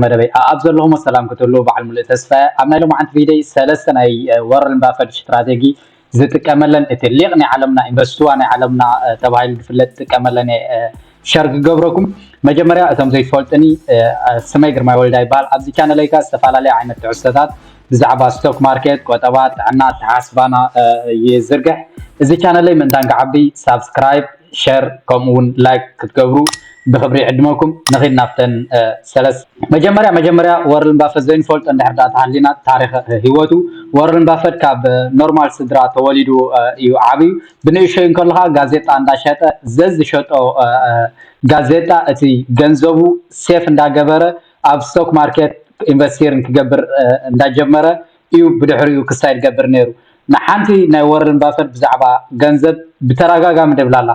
መደበይ ኣኣብ ዘለኹሞ ሰላም ክትህልዉ በዓል ሙሉእ ተስፋየ ኣብ ናይ ሎማዓንቲ ቪደይ ሰለስተ ናይ ወርል ባፈድ ሽትራቴጊ ዝጥቀመለን እቲ ሊቅ ናይ ዓለምና ኢንቨስትዋ ናይ ዓለምና ተባሂሉ ድፍለጥ ዝጥቀመለን እየ ሸር ክገብረኩም መጀመርያ እቶም ዘይትፈልጡኒ ስመይ ግርማይ ወልዳ ይበሃል ኣብዚ ቻነለይ ከኣ ዝተፈላለየ ዓይነት ትሕዝቶታት ብዛዕባ ስቶክ ማርኬት ቆጠባ ጥዕና ኣተሓሳስባና ይዝርግሕ እዚ ቻነለይ ምእንታን ክዓቢ ሳብስክራይብ ሸር ከምኡ ውን ላይክ ክትገብሩ ብክብሪ ይዕድመኩም ንኪድ ናብተን ሰለስተ። መጀመርያ መጀመርያ ወረን ባፈት ዘይንፈልጦ እንድሕር ድኣ ተሃሊና ታሪክ ሂወቱ ወረን ባፈት ካብ ኖርማል ስድራ ተወሊዱ እዩ ዓብዩ ብንእሸዩ እንከሎ ከኣ ጋዜጣ እንዳሸጠ ዘዝሸጦ ጋዜጣ እቲ ገንዘቡ ሴፍ እንዳገበረ ኣብ ስቶክ ማርኬት ኢንቨስቲርን ክገብር እንዳጀመረ እዩ ብድሕሪኡ ክሳይ ዝገብር ነይሩ። ንሓንቲ ናይ ወረን ባፈት ብዛዕባ ገንዘብ ብተራጋጋሚ ደብላላ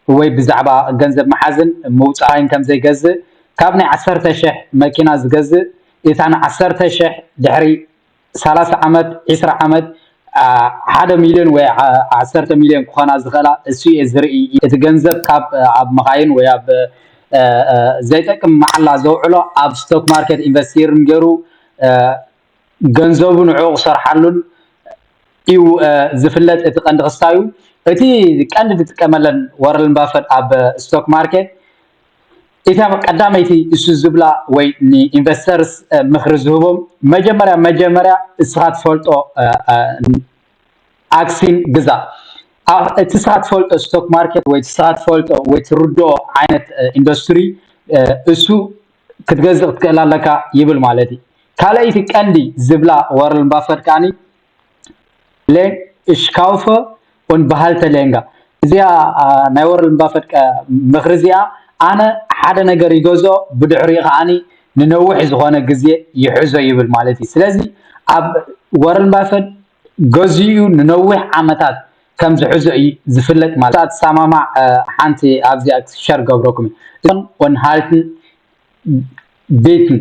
ወይ ብዛዕባ ገንዘብ ምሓዝን ምውጻይን ከም ዘይገዝእ ካብ ናይ ዓሰርተ ሽሕ መኪና ዝገዝእ እታ ን ዓሰርተ ሽሕ ድሕሪ ሰላሳ ዓመት ዕስራ ዓመት ሓደ ሚልዮን ወይ ዓሰርተ ሚልዮን ክኾና ዝኽእላ እሱ እየ ዝርኢ እቲ ገንዘብ ካብ ኣብ መኻይን ወይ ኣብ ዘይጠቅም መዓላ ዘውዕሎ ኣብ ስቶክ ማርኬት ኢንቨስቲርን ገይሩ ገንዘቡ ንዕኡ ክሰርሓሉን እዩ ዝፍለጥ እቲ ቀንዲ ክስታዩ እቲ ቀንዲ ዝጥቀመለን ወረን ባፈት ኣብ ስቶክ ማርኬት እታ ቀዳመይቲ እሱ ዝብላ ወይ ንኢንቨስተርስ ምክሪ ዝህቦም መጀመርያ መጀመርያ እስኻ ትፈልጦ ኣክሲን ግዛ እቲ እስኻ ትፈልጦ ስቶክ ማርኬት ወይ እቲ እስኻ ትፈልጦ ወይ ትርድኦ ዓይነት ኢንዱስትሪ እሱ ክትገዝእ ክትክእል ኣለካ ይብል ማለት እዩ። ካልኣይቲ ቀንዲ ዝብላ ዋረን ባፈት ከኣ ለ እሽ ካውፈ ኡን በሃልተ ሌንጋ እዚኣ ናይ ዋረን ባፈት ምኽሪ እዚኣ ኣነ ሓደ ነገር ይገዝኦ ብድሕሪኡ ከኣ ንነውሕ ዝኾነ ግዜ ይሕዞ ይብል ማለት እዩ። ስለዚ ኣብ ዋረን ባፈት ገዚኡ ንነዊሕ ዓመታት ከም ዝሕዞ እዪ ዝፍለጥ ማለት እያ ትሳማማዕ ሓንቲ ኣብዚኣ ሸር ገብረኩም እየ እዞን ኦን ሃልትን ቤትን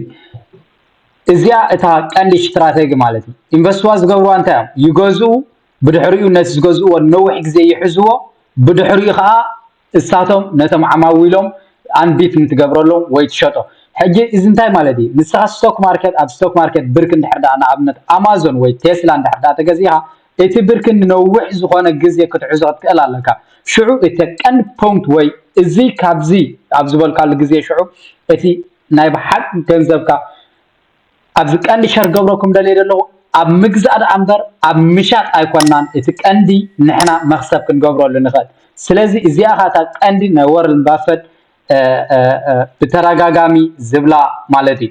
እዚኣ እታ ቀንዲ ሽትራተጊ ማለት እዩ ኢንቨስትዋ ዝገብርዋ እንታይ እዮም ይገዝኡ ብድሕሪኡ ነቲ ዝገዝእዎ ንነዊሕ ግዜ ይሕዝዎ ብድሕሪኡ ከዓ እሳቶም ነቶም ዓማዊሎም ኣንቢት ንትገብረሎም ወይ ትሸጦ ሕጂ እዚ እንታይ ማለት እዩ ንስኻ ስቶክ ማርከት ኣብ ስቶክ ማርከት ብርክ እንድሕር ደኣ ንኣብነት ኣማዞን ወይ ቴስላ እንድሕር ደኣ ተገዚእኻ እቲ ብርክ ንነዊሕ ዝኾነ ግዜ ክትሕዞ ክትክእል ኣለካ ሽዑ እቲ ቀንዲ ፖንት ወይ እዚ ካብዚ ኣብ ዝበልካሉ ግዜ ሽዑ እቲ ናይ ብሓቂ ገንዘብካ ኣብዚ ቀንዲ ሸር ክገብረኩም ደልየ ዘለኹ ኣብ ምግዛእ ደኣ እምበር ኣብ ምሻጥ ኣይኮናን እቲ ቀንዲ ንሕና መኽሰብ ክንገብረሉ ንኽእል ስለዚ እዚኣ ከኣ እታ ቀንዲ ናይ ወረን ባፈት ብተረጋጋሚ ዝብላ ማለት እዩ